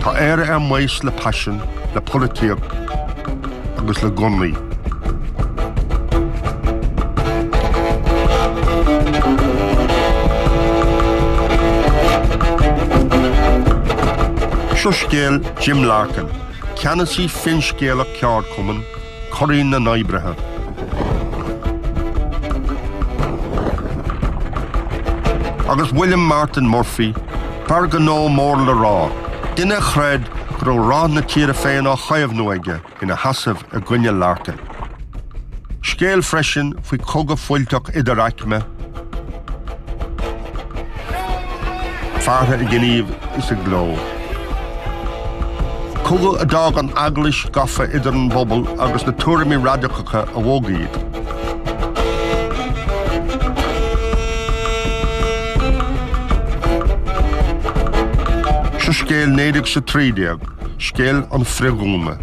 Tá Éire ar maos le paisean, le polaitíocht agus le gunnaí. Seo scéal Jim Larkin, ceannasaí finscéalach ceardchumann, curadh na n-oibrithe, agus William Martin Murphy, fear gnó mór le rá, duine a chreid go raibh rath na tíre féin á chaomhnú aige, ina sheasamh i gcoinne Larkin. Scéal freisin faoi chogadh fuilteach idir aicme. Feartha i ngníomh is i gcló. Cogadh a d'fhág an Eaglais gafa idir an bpobal agus na tuairimí radacacha a bhog iad. Seo scéal 1913, scéal an Frithdhúnadh.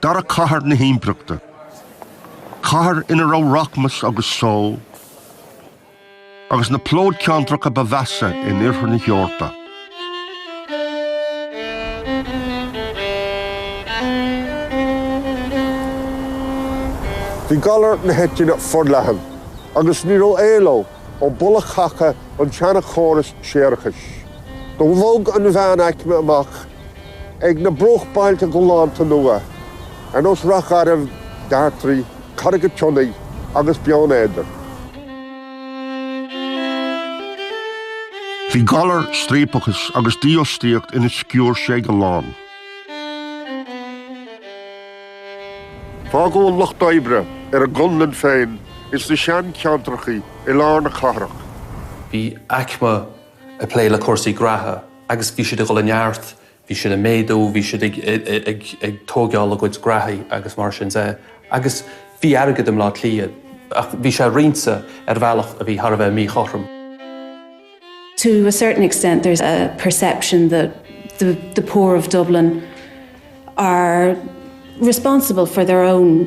Dara cathair na himpireachta. Cathair ina raibh rachmas agus só, agus na plódcheantracha ba mheasa in Iarthar na hEorpa. Bhí galar na heitinne forleathan, agus ní raibh éaló ó bholadh caca an tseana-chóras séarachais. Do bhog an mheánaicme amach chuig na bruachbhailte galánta nua, ar nós Ráth Garbh, Dartraí, Carraig an tSionnaigh agus Beann Éadair, Bhí galar, striapachas agus dífhostaíocht ina sciúirse ag a lán. Fágadh an lucht oibre ar a gconlán féin ins na seancheantrachaí i lár na cathrach. Bhí aicme ag plé le cúrsaí graithe. agus bhí siad ag dhul i neart, bhí siad ag méadú, bhí siad ag tóigeáil a gcuid graithí agus mar sin de, agus bhí airgead i mBleá Cliath, ach bhí sé roinnte ar bhealach a bhí thar a bheith míchothrom. to a certain extent there's a perception that the the poor of Dublin are responsible for their own.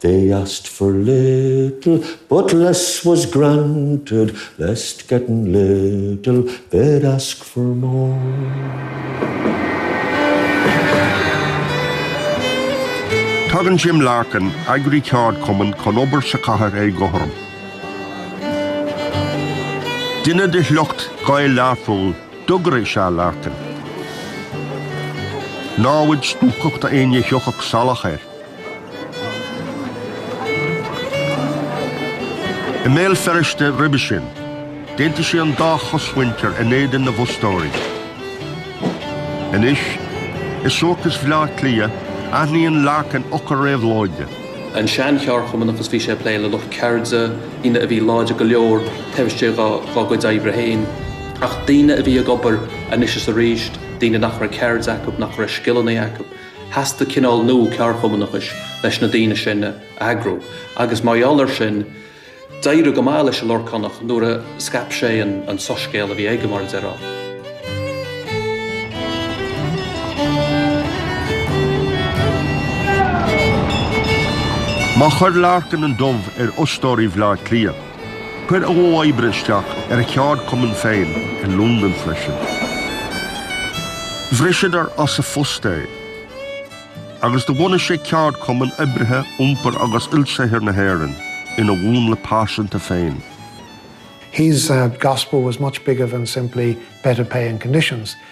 They asked for little, but less was granted, lest getting little they'd ask for more. Tagann Jim Larkin, eagraí ceardchumann, chun obair sa chathair éagothrom. Duine de shliocht Ghaeil Learphoill, dugaire is ea Larkin. Námhaid stuacach d'aoinne a thiocfadh salach air. I mBéal Feirste roimhe sin, d'aontaigh sé an dá chosmhuintir in éadan na bhfostóirí. Anois, i suarachas Bhleá Cliath, aithníonn Larkin eochair réabhlóide. An sean-cheardchumannachas, bhí sé ag plé le lucht ceirde, daoine a bhí láidir go leor taobh istigh dá gcuid oibre féin, ach daoine a bhí ag obair anois is arís, daoine nach raibh ceird acu, nach raibh scileanna acu. Theastaigh cineál nua ceardchumannachais leis na daoine sin a eagrú, agus mar gheall air sin, d'éirigh go maith leis an Lorcánach nuair a scaip sé an soiscéal a bhí aige, mar a déarfá. Má chuir Larkin an dubh ar fhostóirí Bhleá Cliath, Chuir a mhodh oibre isteach ar a cheardchumann féin i Londain freisin. Bhriseadar as a phost é agus do bhunaigh sé Ceardchumann Oibrithe Iompair agus Ilsaothair na hÉireann ina mhúnla pearsanta féin. His gospel was much bigger than simply better pay and conditions.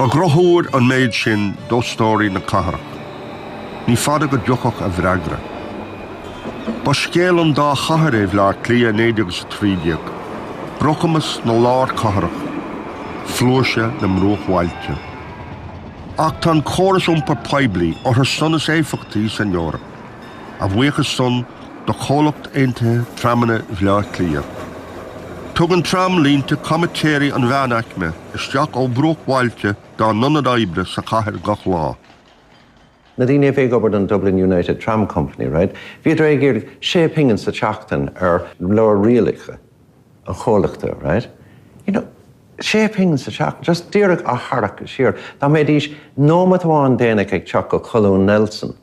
Ba dhrochthuar an méid sin d'fhostóirí na cathrach. Ní fada go dtiocfadh a bhfreagra. Ba scéal an dá chathair é Bhleá Cliath 1913, brocamas na lárchathrach, flúirse na mbruachbhailte. Ach tá an córas iompair poiblí orthu san is éifeachtaí san Eoraip. a bhuíochas san do Chomhlucht Aontaithe Tramanna Bhleá Cliath. Tugann tramlínte comaitéirí an mheánaicme isteach ó bhruachbhailte dá n-ionad oibre sa chathair gach lá. Na daoine a bhí ag obair don Dublin United Tram Company, right, bhíodar ag iarraidh sé phingin sa tseachtain ar leabhar rialacha an chomhlachta, right. You know, sé phingin sa tseachtain, just díreach á tharrac siar. Dá mbeidís nóimeat amháin déanach ag teacht go Colún Nelson,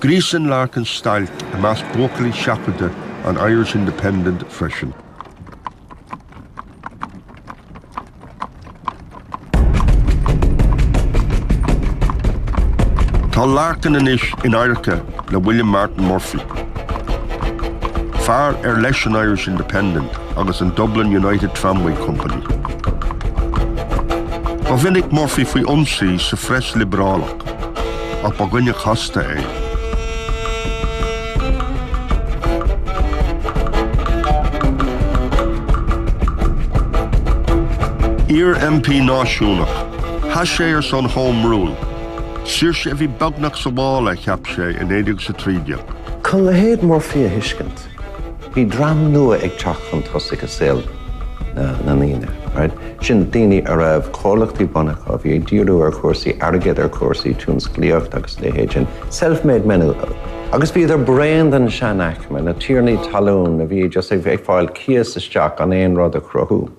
Gríosann Larkin stailc i measc buachaillí seachadta an Irish Independent freisin. Tá Larkin anois in adharca le William Martin Murphy, fear ar leis an Irish Independent agus an Dublin United Tramway Company. Ba mhinic Murphy faoi ionsaí sa phreas liobrálach. Ach ba dhuine casta é. Iar-MP náisiúnach, sheas sé ar son Home Rule, saoirse a bhí beagnach sa mhála a cheap sé in 1913. Chun leithéid Murphy a thuiscint. Bhí dream nua ag teacht chun tosaigh i saol na ndaoine. Sin daoine a raibh comhlachtaí bunaithe acu, a bhí ag díriú ar chúrsaí airgid, ar chúrsaí tionsclaíochta agus a leithéid sin. Self-made men iad. Agus bhíodar bréan den seanaicme, na tiarnaí talún a bhí just ag fáil cíos isteach gan aon rud a chruthú.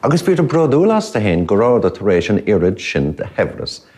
Agus bhíodar bródúil astu féin go rabhadar tar éis an oiread sin de shaibhreas a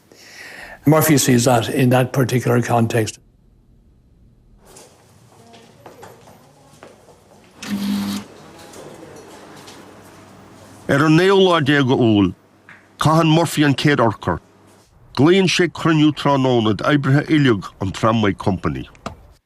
Murphy sees that in that particular context. Ar an naoú lá déag d'Iúil, caitheann Murphy an chéad urchar. Glaonn sé cruinniú tráthnóna d'oibrithe uilig an Tramway Company.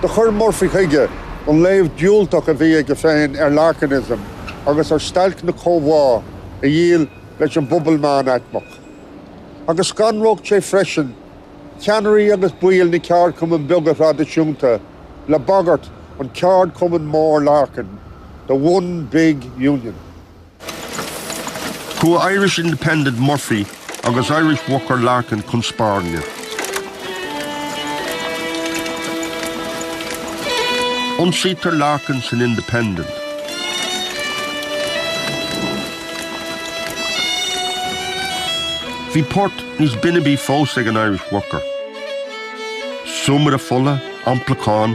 Do chuir Murphy chuige an léamh diúltach a bhí aige féin ar Larkinism agus ar stailc na comhbhá a dhíol leis an bpobal meánaicmeach. Agus scanródh sé freisin ceannairí agus baill na ceardchumann beaga traidisiúnta le bagairt an Cheardchumainn Mhóir Larkin, The One Big Union. Chuaigh Irish Independent Murphy agus Irish Worker Larkin chun spairne. Ionsaítear Larkin san Independent. Bhí port níos binibí fós ag an Irish Worker. Súmaire fola, amplachán,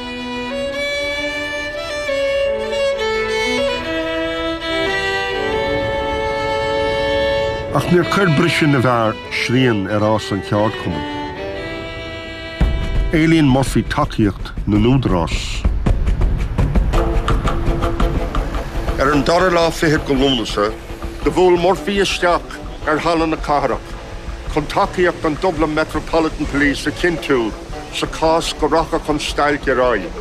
Ach níor chuir briseadh na bhfear srian ar fhás an cheardchumainn. Éilíonn Murphy tacaíocht na n-údarás. Ar an dara lá fichead de Lúnasa, do bhuail Murphy isteach ar Halla na Cathrach chun tacaíocht an Dublin Metropolitan Police a chinntiú. Sa chás go rachadh an stailc ar aghaidh,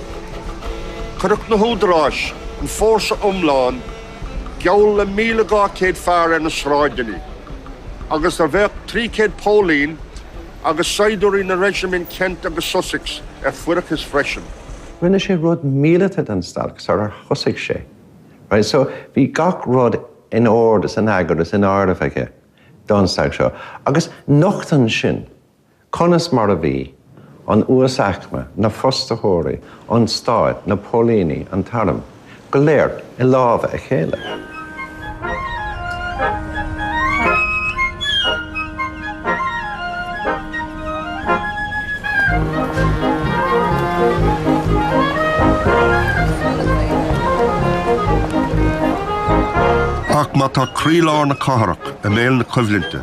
chuirfeadh na húdaráis an fórsa iomlán, geall le 1,200 fear ar na sráideanna, agus bheadh 300 póilín agus saighdiúirí na reisimintí Kent agus Sussex ar fuireachas freisin. Rinne sé rud míleata den stailc sarar thosaigh sé. Right, so, bhí gach rud in ord is in eagar is in áireamh aige don stailc seo, agus nochtann sin Conas mar a bhí an uasaicme, na fostaitheoirí, an stát, na póilíní, an t-arm, go léir i lámha a chéile. Ach má tá croílár na cathrach i mbéal na coimhlinte,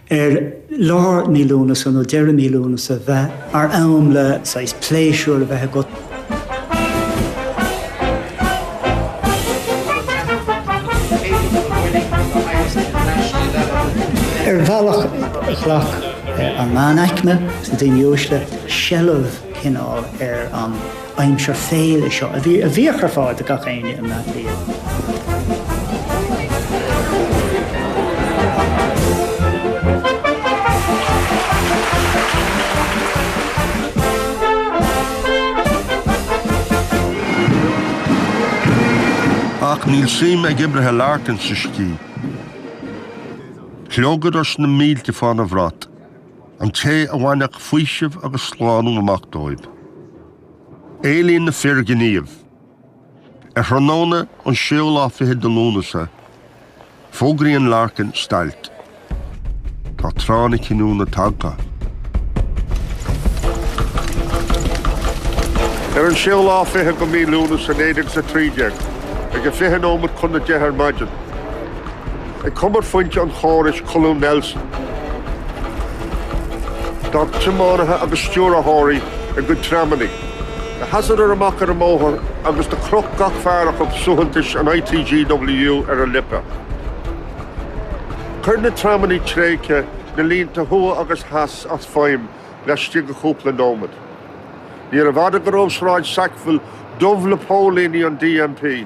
ar lár mí Lúnasa nó deireadh mí Lúnasa bheith mar am le haghaidh pléisiúr a bheith agat. Ar bhealach ghlac an meánaicme, na daoine uaisle, seilbh cineál ar an. Aimsir féile seo a bhí a bhíodh ar fáil do gach éinne. Ach níl suim ag oibrithe Larkin sa scíth. Shlogadar sna mílte fána bhrat. An té a bhainfeadh faoiseamh agus slánú amach dóibh. Éilíonn na fir gníomh. Ar thráthnóna an séú lá fichead de Lúnasa, fógraíonn Larkin stailc. Tá tráth na cinniúna tagtha. Ar an séú lá fichead de mhí Lúnasa 1913, ag fiche nóimead chun a deich ar maidin, Ag cumarphointe an chórais Colún Nelson, d'fhág tiománaithe agus stiúrthóirí a gcuid tramanna leathadar amach ar an mbóthar agus do chroch gach fear acu suaitheantas an ITGWU ar a lipéad. Chuir na tramanna tréigthe na línte thuaidh agus theas as feidhm laistigh de chúpla nóiméad. Níorbh fhada go raibh Sráid Sackville dubh le póilíní an DMP.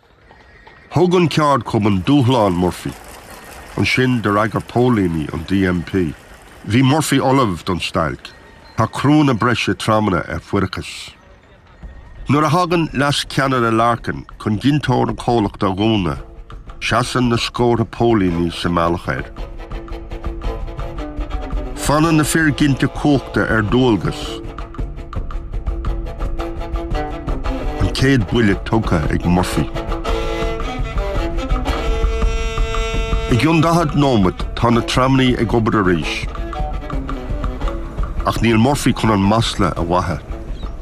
Thug an ceardchumann dúshlán Murphy. Ansin do fhreagair póilíní an DMP. Bhí Murphy ullamh don stailc. Tá criúnna breise tramanna ar fuireachas. Nuair a thagann leascheannaire Larkin chun gineadóir an chomhlachta a dhúnadh, seasann na scórtha póilíní sa mbealach air. Fanann na fir ginte cumhachta ar dualgas. An chéad bhuille tugtha ag Murphy. I gcionn daichead nóimeat tá na tramannaí ag obair arís. Ach níl Murphy chun an masla a mhaitheamh.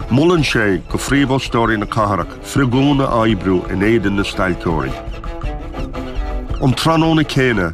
Molann sé do phríomhfhostóirí na cathrach frithdhúnadh a oibriú in éadan na stailceoirí. An tráthnóna céanna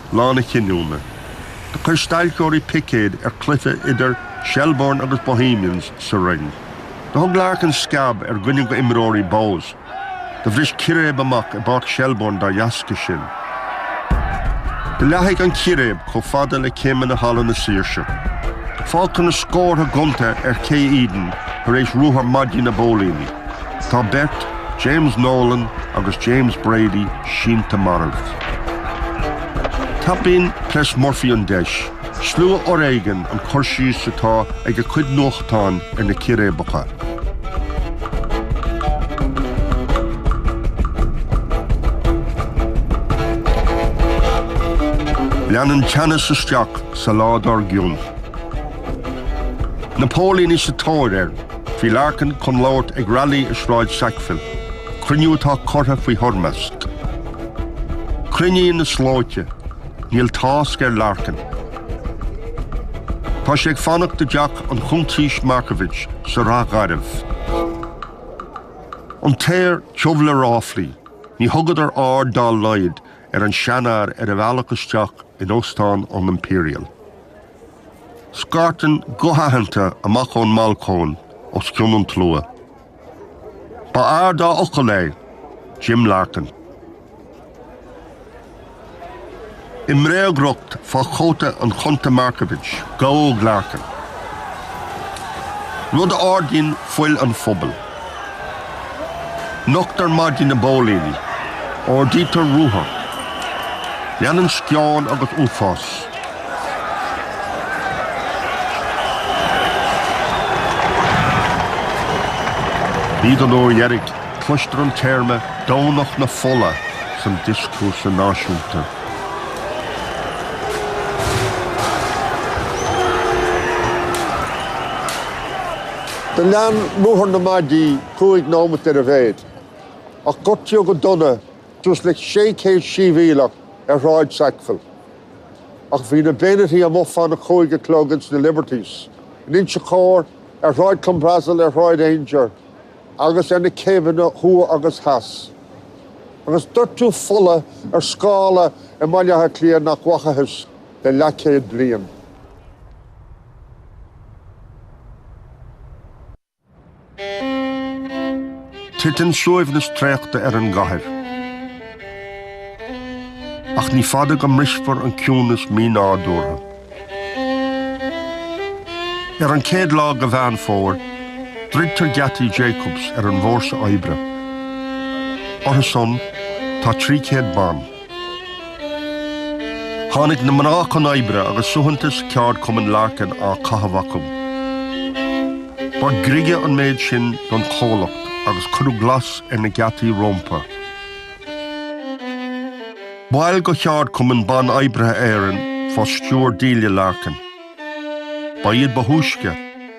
Lá na Cinniúna. Do chuir stailceoirí picéad ar chluiche idir Shelbourne agus Bohemians sa Rinn. Do thug Larkin sceab ar dhuine d'imreoirí Bohs. Do bhris círéib amach i bPáirc Shelbourne dá dheasca sin. Do leathnaigh an círéib chomh fada le céimeanna Halla na Saoirse. Fágtar na scórtha gonta ar Ché Eden tar éis ruathar maidí na bpóilíní. Tá beirt, James Nolan agus James Brady, sínte marbh. Tapaíonn preas Murphy an deis, slua-fhoréigean an cur síos atá ag a chuid nuachtán ar na círéibeacha. Leanann teannas isteach sa lá dár gcionn. Na póilíní sa tóir ar. Bhí Larkin chun labhairt ag railí i Sráid Sackville, cruinniú atá curtha faoi thoirmeasc. Cruinníonn na slóite. Níl tásc ar Larkin. Tá sé ag fanacht i dteach na Cuntaoise Markievicz sa Ráth Gharbh. An t-aer tiubh le ráflaí. Ní thugtar aird dá laghad ar an seanfhear ar a bhealach isteach in Óstán an Imperial. Scairteann guth aitheanta amach ón mbalcóin os cionn an tslua. B'fhear dá fhocal é, Jim Larkin. I mbréagriocht fá chóta an Chunta Markievicz, gabhadh Larkin, rud a ardaíonn fuil an phobail. Nochtar maidí na bpóilíní. Ordaítear ruathar. Leanann sceon agus uafás. Ní don uair dheiridh, cloistear an téarma 'Domhnach na Fola' san dioscúrsa náisiúnta. Do lean ruathar na maidí cúig nóimeat ar a mhéad, ach gortaíodh go dona suas le 600 siabhialach ar Shráid Sackville. Ach bhí na beaignití amuigh fán a cúig a chlog ins na Liberties, in Inse Chór, ar Shráid Clanbrassil, ar Shráid Aungier agus ar na céibheanna thuaidh agus theas. Agus doirteadh fola ar scála i mBaile Átha Cliath nach bhfachathas le leathchéad bliain. Titeann suaimhneas traochta ar an gcathair. Ach ní fada go mbrisfear an ciúnas mínádúrtha. Ar an chéad lá de Mheán Fómhair, druidtear geataí Jacobs ar an bhfórsa oibre. Orthusan, tá 300 ban. Tháinig na mná chun oibre agus suaitheantas Cheardchumann Larkin á chaitheamh acu. Ba ghriogadh an méid sin don chomhlacht agus cuireadh glas ar na geataí rompu. Baill de Cheardchumann Ban Oibrithe Éireann fá stiúir Delia Larkin, ba iad ba thúisce.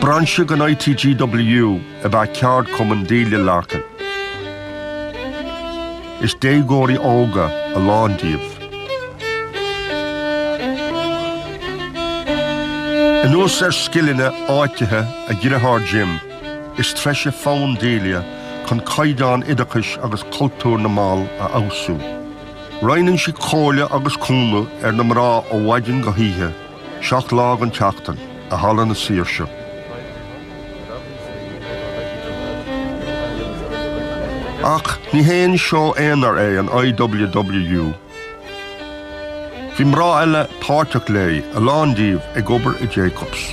Brainse den ITGWU ab ea Ceardchumann Delia Larkin. Is déagóirí óga a lán díobh. Anuas ar scileanna áitithe a dritheár Jim, is treise fonn Delia chun caighdeán oideachais agus cultúr na mball a fheabhsú. Roinneann sí comhairle agus cúnamh ar na mná ó mhaidin go hoíche, seacht lá den tseachtain, i Halla na Saoirse. Ach ní haon seó aonair é an IWWU. Bhí mná eile páirteach léi, a lán díobh ag obair i Jacobs.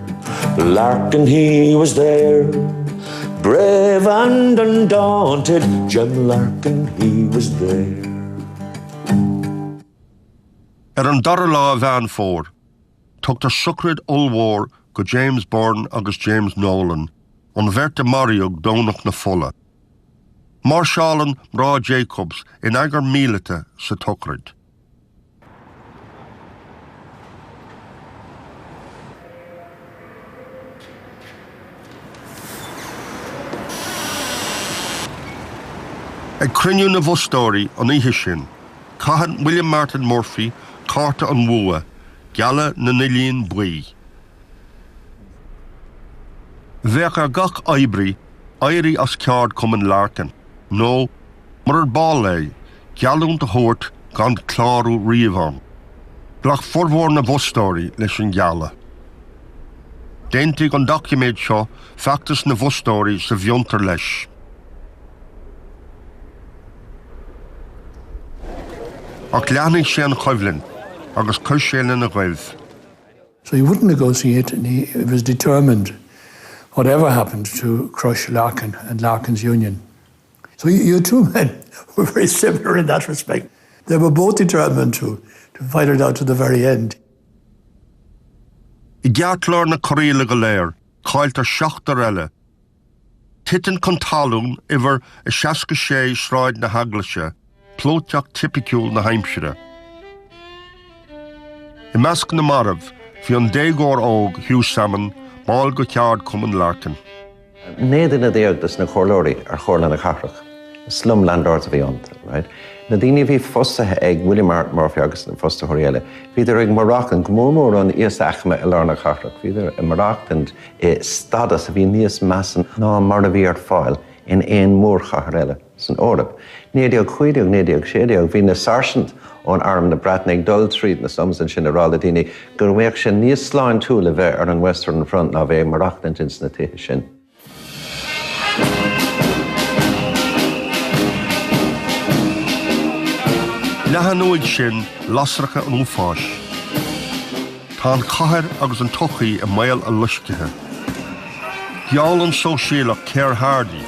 Larkin he was there, Brave and undaunted, Jim Larkin he was there. Ar an dara lá Mheán Fómhair, tugtar sochraid ollmhór do James Byrne agus James Nolan, an bheirt a maraíodh Domhnach na Fola. Máirseálann mná Jacobs in eagar míleata sa tsochraid. Ag cruinniú na bhfostóirí an oíche sin, caitheann William Martin Murphy cárta an mhámha gealladh na n-uillinn buí. Bheadh ar gach oibrí éirí as ceardchumann Larkin nó Murar ball é, geallúint a thabhairt gan clárú riamh ann. Ghlac formhór na bhfostóirí leis an gealladh. D'aontaigh an doiciméad seo feachtas na bhfostóirí sa bhfrithdhúnadh leis. Ach leathnaigh sé an choimhlint agus chuir sé lena goimh. So he wouldn't negotiate and he was determined, whatever happened, to crush Larkin and Larkin's union. So the two men were very similar in that respect. They were both determined to to fight it out to the very end. I gceartlár na corraíle go léir, cailltear seachtar eile. Titeann chun talún uimhir a 66 Sráid na hEaglaise Plódteacht tipiciúl na haimsire. I measc na marbh bhí an déagóir óg Hugh Salmon, ball de cheardchumann Larkin. 19 duine de na comhairleoirí ar Chomhairle na Cathrach, slum landlords a bhí iontu. Na daoine a bhí fostaithe ag William Martin Murphy agus na fostaitheoirí eile, bhíodar ag maireachtaint, go mór mór an íosaicme i lár na cathrach, bhíodar ag maireachtaint i stadas a bhí níos measa ná mar a bhí ar fáil in aon mhórchathair eile. san Eoraip. 1915, 1916, bhí na sáirsint ó arm na Breataine ag dul tríd na slums ansin ag rá le daoine go mbeadh sé níos sláintiúla bheith ar an Western Front ná bheith ag maireachtaint ins na tithe sin. Leathann uaidh sin lasracha an uafáis. Tá an chathair agus an tsochaí i mbaol a loiscthe. Gheall an sóisialach Keir Hardie,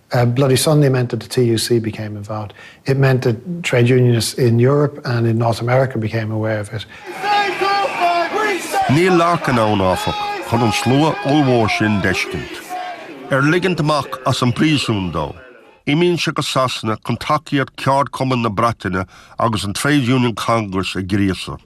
a bloody Sunday meant that the TUC became involved, it meant that trade unionists in Europe and in North America became aware of it. Níl Larkin ann, áfach, chun an slua ollmhór sin d'fheiscint. Ar ligint amach as an bpríosún dó, imíonn sé go Sasana chun tacaíocht ceardchumann na Breataine agus an Trades Union Congress a ghríosadh.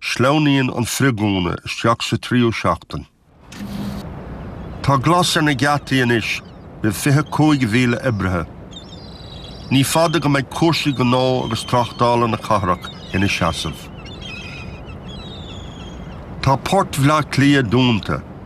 Sleamhnaíonn an frithdhúnadh isteach sa tríú seachtain. Tá glas ar na geataí anois roimh 25,000 oibrithe. Ní fada go mbeidh cúrsaí gnó agus tráchtála na cathrach ina seasamh. Tá Port Bhleá Cliath dúnta.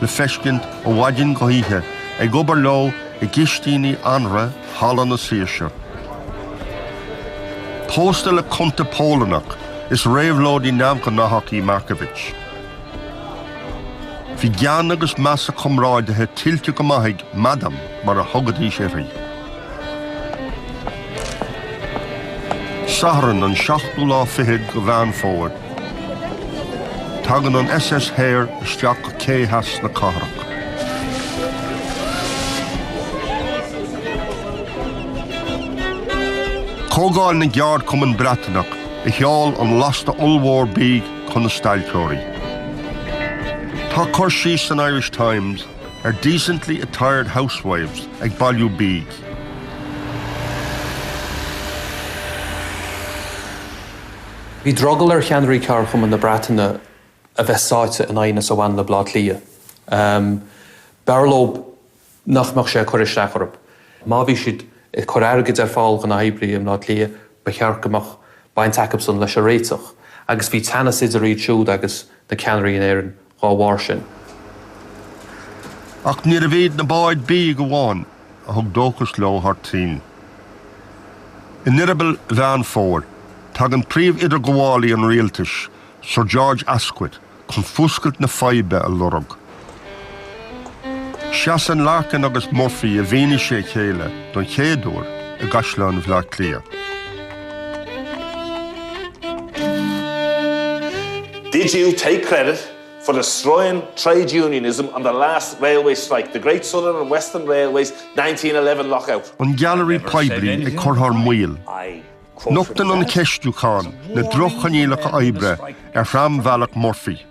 le feiscint ó mhaidin go hoíche ag obair leo i gcistíní anraith Halla na Saoirse. Pósta le cunta Polannach, is réabhlóidí neamhghnáthach í Markiewicz. Bhí gean agus meas a comráidithe tuillte go maith ag 'Madame' mar a thugaidís uirthi. Satharn, an seachtú lá fichead de Mheán Fómhair. Tagann an SS Hare isteach go cé theas na cathrach. Comhdháil na gCeardchumann Breataineach a sheol an lasta ollmhór bídh chun na stailceoirí. Tá cur síos san Irish Times ar Decently Attired Housewives ag bailiú bídh. Bhí drogall ar cheannairí ceardchumainn na Breataine a bheith sáite in aighneas a bhain le Bleá Cliath. B'fhearr leo nach mbeadh sé ag cur isteach orthu. Má bhí siad ag cur airgid ar fáil do na hoibrithe i mBleá Cliath, ba cheart go mbeadh baint acusan leis an réiteach. Agus bhí teannas idir iad siúd agus na ceannairí in Éirinn. dhá bharr sin. Ach níorbh iad na báid bídh amháin a thug dóchas leo thar toinn. In eireaball Mheán Fómhair, tagann príomh-idirghabhálaí an rialtais, Sir George Askwith, chun fuascailt na faidhbe a lorg. Seasann Larkin agus Murphy i bhfianaise a chéile don chéad uair i gCaisleán Bhleá Cliath. Did you take credit for destroying trade unionism on the last railway strike, the Great Southern and Western Railways 1911 lockout? An Gailearaí Poiblí ag cur thar maoil. Nochtann an cheistiúchán na droch-choinníollacha oibre ar thrambhealach Murphy.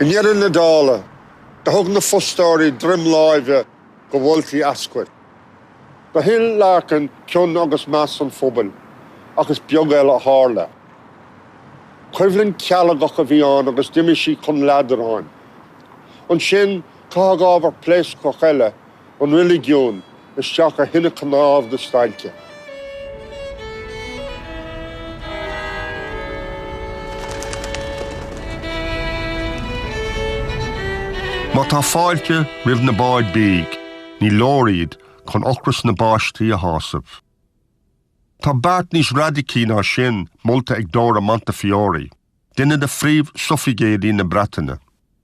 I ndeireadh na dála, do thug na fostóirí droim láimhe do mholtaí Askwith. Do thuill Larkin cion agus meas an phobail, ach is beag eile a tharla. Coimhlint cealgach a bhí ann agus d'imigh sí chun leadráin. Ansin, caitheadh ábhar pléascach eile an reiligiúin isteach ar thine cnámh na stailce. Má tá fáilte roimh na báid bídh, ní leor iad chun ocras na bpáistí a shásamh. Tá beart níos raidicí ná sin molta ag Dora Montefiore, duine de phríomh-sufraigéidí na Breataine.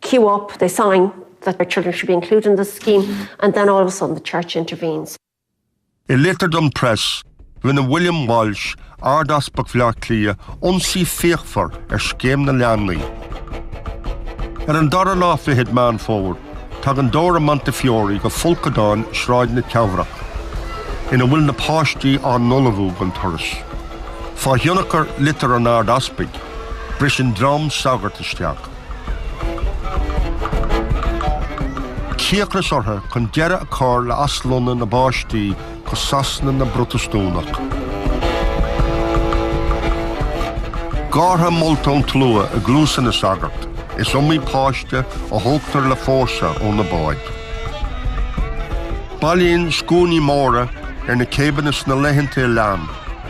queue up, they sign that their children should be included in this scheme and then all of a sudden the Church intervenes. I litir don Press, rinne William Walsh, Ard-Easpag Bhleá Cliath, ionsaí fíochmhar ar scéim na leanaí. Ar an dara lá fichead Meán Fómhair, tagann Dora Montefiore go folcadáin Sráid na Teamhrach, ina bhfuil na páistí á n-ullmhú don turas. Fá thionchar litir an Ard-Easpaig, briseann dream sagart isteach. cíocras orthu chun deireadh a chur le aslonnadh na bpáistí go Sasana na bProtastúnach. Gártha molta ón tslua i gcluasa na sagart, is iomaí páiste a thógtar le fórsa ó na báid. Bailíonn scuainí móra ar na céibheanna sna laethanta a lean,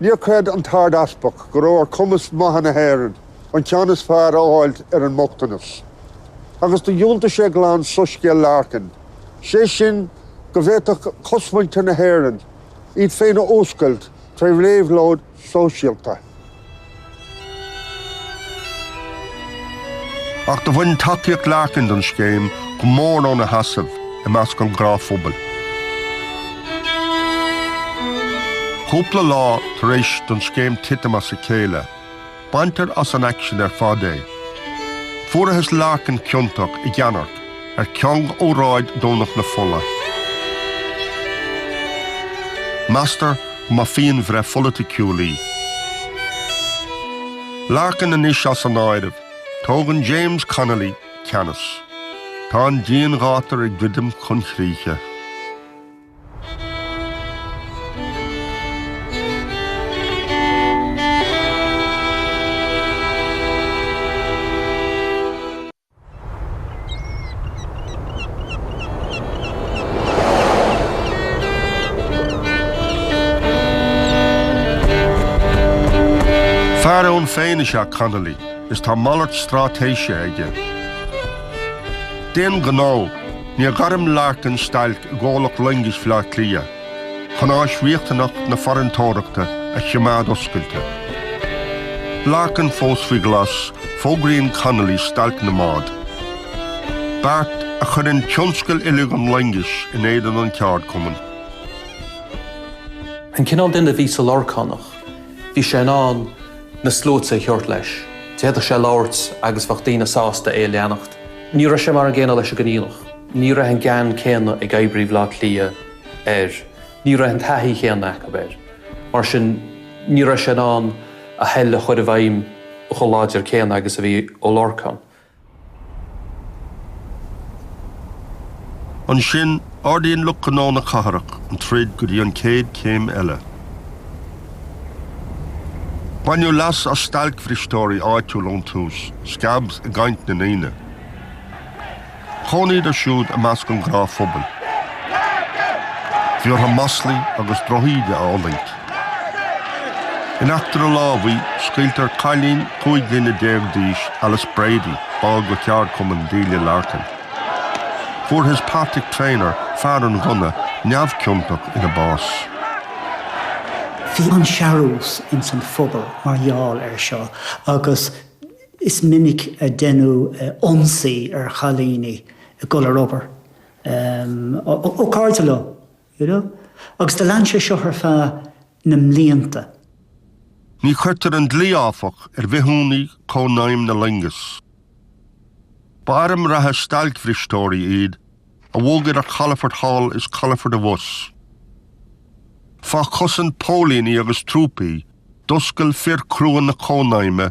Níor chreid an tArd-Easpag go raibh ar chumas maithe na hÉireann an ceann is fearr a fháil ar an mbochtanas, agus do dhiúltaigh sé glan soiscéal Larkin, sé sin, go bhféadfadh cosmhuintir na hÉireann iad féin a fhuascailt tré réabhlóid sóisialta. Ach do bhain tacaíocht Larkin don scéim go mór óna sheasamh i measc an ghnáthphobail. Cúpla lá tar éis don scéim titim as a chéile, baintear as an aicsean ar fad é. Fuarathas Larkin ciontach i gceannairc. Ar cheann óráid Dhomhnach na Fola, meastar go mba phianbhreith pholaiticiúil í. Larkin anois as an áireamh, tógann James Connolly ceannas. Tá an dianghátar ag druidim chun críche. Fear ann féin is ea Connolly is tá malairt straitéise aige. D'aon ghnó, níor ghairm Larkin stailc i gcomhlacht loingis Bhleá Cliath. chun áis riachtanach na farantóireachta a choimeád oscailte. Larkin fós faoi ghlas, fógraíonn Connolly stailc na mbád, beart a chuireann tionscal uilig an loingis in éadan an cheardchumainn. An cineál duine a bhí sa Lorcánach, bhí sé in ann na sluaite a thabhairt leis. D'fhéadfadh sé labhairt agus bheadh daoine sásta é a leanacht. Ní raibh sé mar an gcéanna leis an gConghaileach. Ní raibh an gean céanna ag oibrithe Bhaile Átha Cliath. air. Ní raibh an taithí chéanna acu air, mar sin ní raibh sé in ann a thoil a chur i bhfeidhm chomh láidir céanna agus a bhí Ó Lorcáin. Ansin, ardaíonn lucht gnó na cathrach an troid go dtí an chéad chéim eile. Baineadh leas as stailcbhristeoirí áitiúil ón tús, 'scabs' i gcaint na ndaoine. Chónaíodar siúd i measc an ghnáthphobail, bhí orthu maslaí agus drochíde a fhulaingt. In eachtra lámhaigh, scaoiltear cailín 15 bliana d'aois, Alice Brady, ball de cheardchumann Delia Larkin. Fuarthas Patrick Traynor, fear an ghunna, neamhchiontach ina bás. Bhí an-searbhas ins an phobal mar gheall air seo agus Is minic a deineadh ionsaí ar chailíní ag dul ar obair ó cairde leo you know agus do lean sé seo ar feadh na mblianta. Ní chuirtear an dlí áfach ar bhithiúnaigh Cónaidhm na Loingeas. Ba airm reatha stailcbhristeoirí iad a bhog idir calafoirt thall is calafoirt abhus. Fá chosaint póilíní agus trúpaí, d'oscail fir crua na Cónaidhme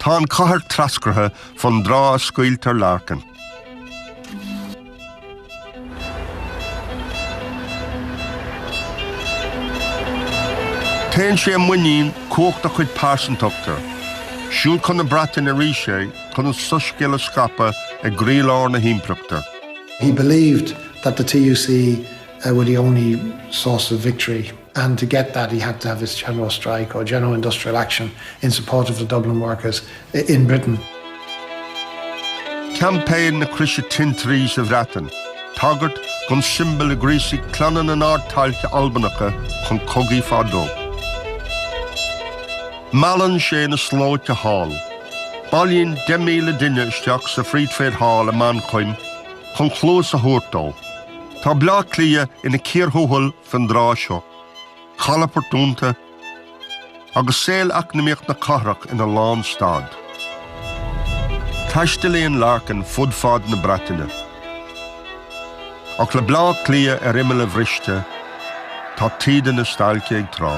Tá an chathair treascartha fén dtráth a scaoiltear Larkin. Téann sé i muinín cumhacht a chuid pearsantachta, siúd chun na Breataine arís é chun an soiscéal a scaipeadh i gcroílár na hImpireachta. He believed that the TUC were the only source of victory. and to get that he had to have this general strike or general industrial action in support of the Dublin workers in Britain. Campaign na Croise Tintrí sa Bhreatain, tagairt don siombal a ghríosaigh clanna na nArdtailte Albanacha chun cogaidh fadó. Meallann sé na slóite thall. Bailíonn 10,000 duine isteach sa Free Trade Hall i Manchain chun cluas a thabhairt dó. Tá Bleá Cliath ina cíor thuathail Fén dtráth seo, calafoirt dúnta agus saol eacnamaíoch na cathrach ina lánstad, taistealaíonn Larkin fud fad na Breataine. Ach le Bleá Cliath ar imeall a bhriste, tá taoide na stailce ag trá.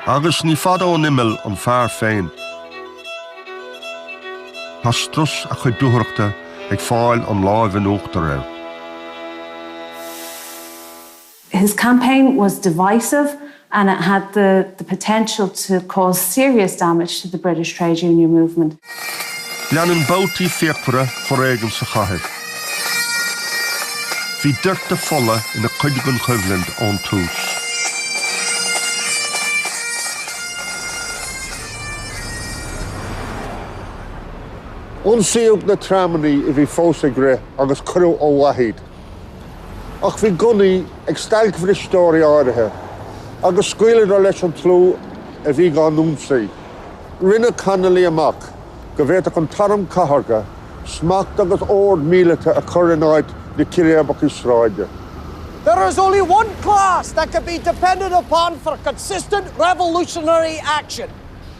Agus ní fada ón imeall an fear féin. Tá strus a chuid dúthrachta ag fáil an lámh in uachtar air. His campaign was divisive and it had the the potential to cause serious damage to the British trade union movement. Leanann babhtaí fíochmhara foréigin sa chathair. Bhí doirteadh fola ina chuid den choimhlint ón tús. Ionsaíodh na tramannaí a bhí fós ag rith agus cuireadh ó mhaith iad. Ach bhí gunnaí ag stailcbhristeoirí áirithe agus scaoileadar leis an tslua a bhí á n-ionsaí. Rinne Connolly amach go bhféadfadh an t-arm cathartha, smacht agus ord míleata a chur in áit na círéibeachta sráide. There is only one class that can be depended upon for consistent revolutionary action,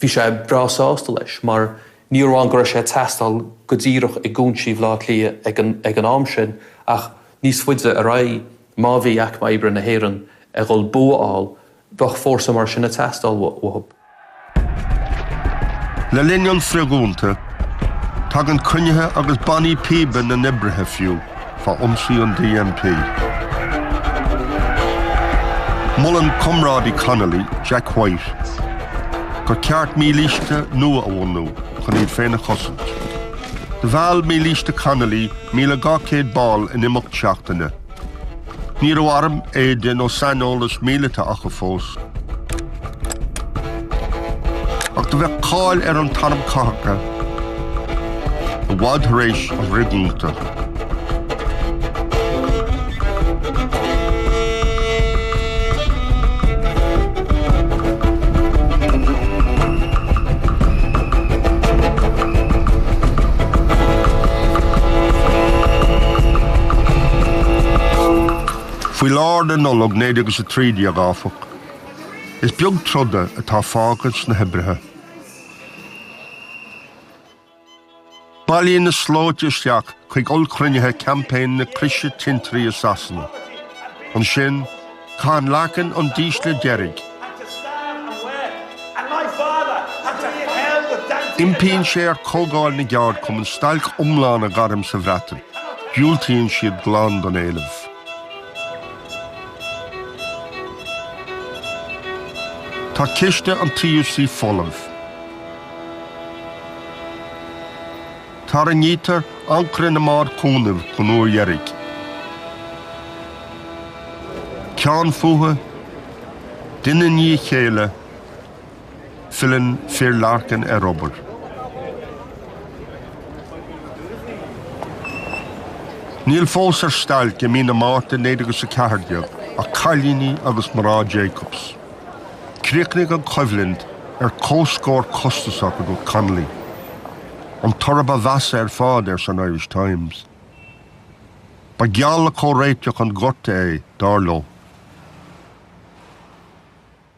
Bhí sé breá sásta leis, mar ní amháin go raibh sé ag teastáil go díreach i gcúinsí Bhleá Cliath ag an am sin, ach níos faide ar aghaidh, má bhí aicme oibre na hÉireann ag dhul bua a fháil, bheadh fórsa mar sin ag teastáil uathu. Le linn an fhrithdhúnta, tagann cruinnithe agus bannaí píbe na n-oibrithe fiú. fá ionsaí an DMP. Molann comrádaí Connolly, Jack White, gur cheart mílíste nua a bhunú chun iad féin a chosaint. Do mheall mílíste Connolly míle dhá céad ball in imeacht seachtaine. Ní raibh arm, éide nó saineolas míleata acu fós. Ach do bheadh cáil ar an t-arm Cathartha i bhfad tar éis an fhrithdhúnta. Faoi lár na Nollag 1913, áfach, Is beag troda atá fágtha ins na hoibrithe. Bailíonn na slóite isteach chuig ollchruinnithe Campaign na Croise Tintrí i Sasana. Ansin, caitheann Larkin an dísle deiridh. Impíonn sé ar Chomhdháil na gCeardchumann stailc iomlán a ghairm sa Bhreatain. Diúltaíonn siad glan don éileamh. Tá ciste an TUC folamh. Tarraingítear ancaire na mbád cúnaimh don uair dheiridh. Ceann fúthu, duine i ndiaidh a chéile, Filleann fir Larkin ar obair. Níl fós ar stailc i mí na Márta 1914 ach cailíní agus mná Jacobs. Críochnaigh an choimhlint ar comhscór costasach, a dúirt Connolly. An toradh ba mheasa ar fad, arsa an Irish Times. Ba gheall le comhréiteach an ghorta é, dar leo.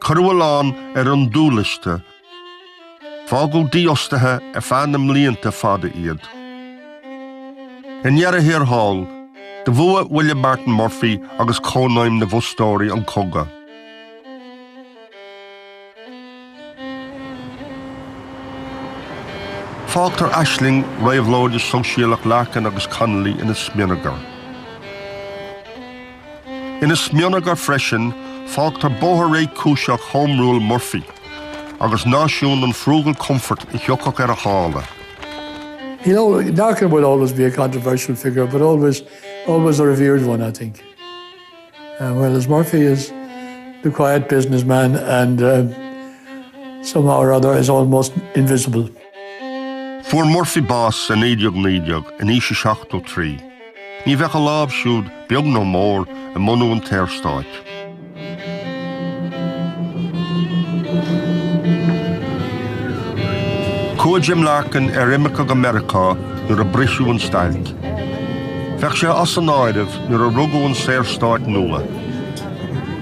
Cuireadh a lán ar an dúliosta, fágadh dífhostaithe ar feadh na mblianta fada iad. I ndeireadh thiar thall, do bhuaigh William Martin Murphy agus Cónaidhm na bhFostóirí an cogadh. Fágtar aisling réabhlóide sóisialach Larkin agus Connolly ina smionagar. Ina smionagar freisin, fágtar bóthar réchúiseach Home Rule Murphy, agus náisiún an frugal comfort a thiocfadh ar a shála. You know, Larkin will always be a controversial figure, but always, always a revered one, I think. Whereas Murphy is the quiet businessman and somehow or other is almost invisible. Fuair Murphy bás i 1919, in aois a 73. Ní bheadh a lámh siúd, beag nó mór, i mbunú an tSaorstáit. Chuaigh Jim Larkin ar imirce go Meiriceá nuair a briseadh an stailc. Bheadh sé as an áireamh nuair a rugadh an Saorstát nua,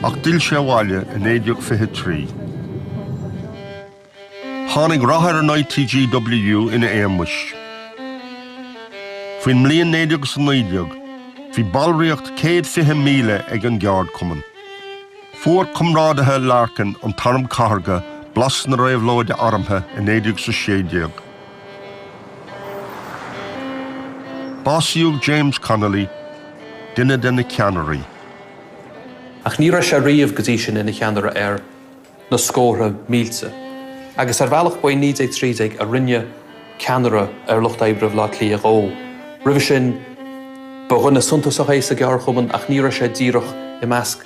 ach d'fhill sé abhaile i 1923. Tháinig rath ar an ITGWU ina éagmais. Faoin mbliain 1919, bhí ballraíocht céad fiche míle ag an gceardchumann. Fuair comrádaithe Larkin an tArm Cathartha blas na Réabhlóide Armtha i 1916. Básaíodh James Connolly, duine de na ceannairí. Ach ní raibh sé riamh go dtí sin ina cheannaire ar na scórtha mílte. Agus ar bhealach ba i 1913 a rinneadh ceannaire ar lucht oibre Bhaile Átha Cliath dhó. Roimhe sin ba dhuine suntasach é sa gceardchumann ach ní raibh sé díreach i measc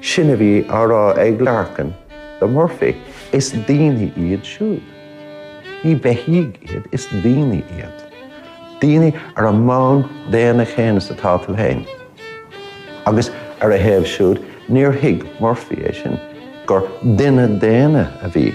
Sin a bhí á rá ag Larkin do Murphy, is daoine iad siúd. Ní beithígh iad, is daoine iad. Daoine ar an mbonn daonna chéanna is atá tú féin. Agus ar a thaobh siúd, níor thuig Murphy é sin, gur duine daonna a bhí.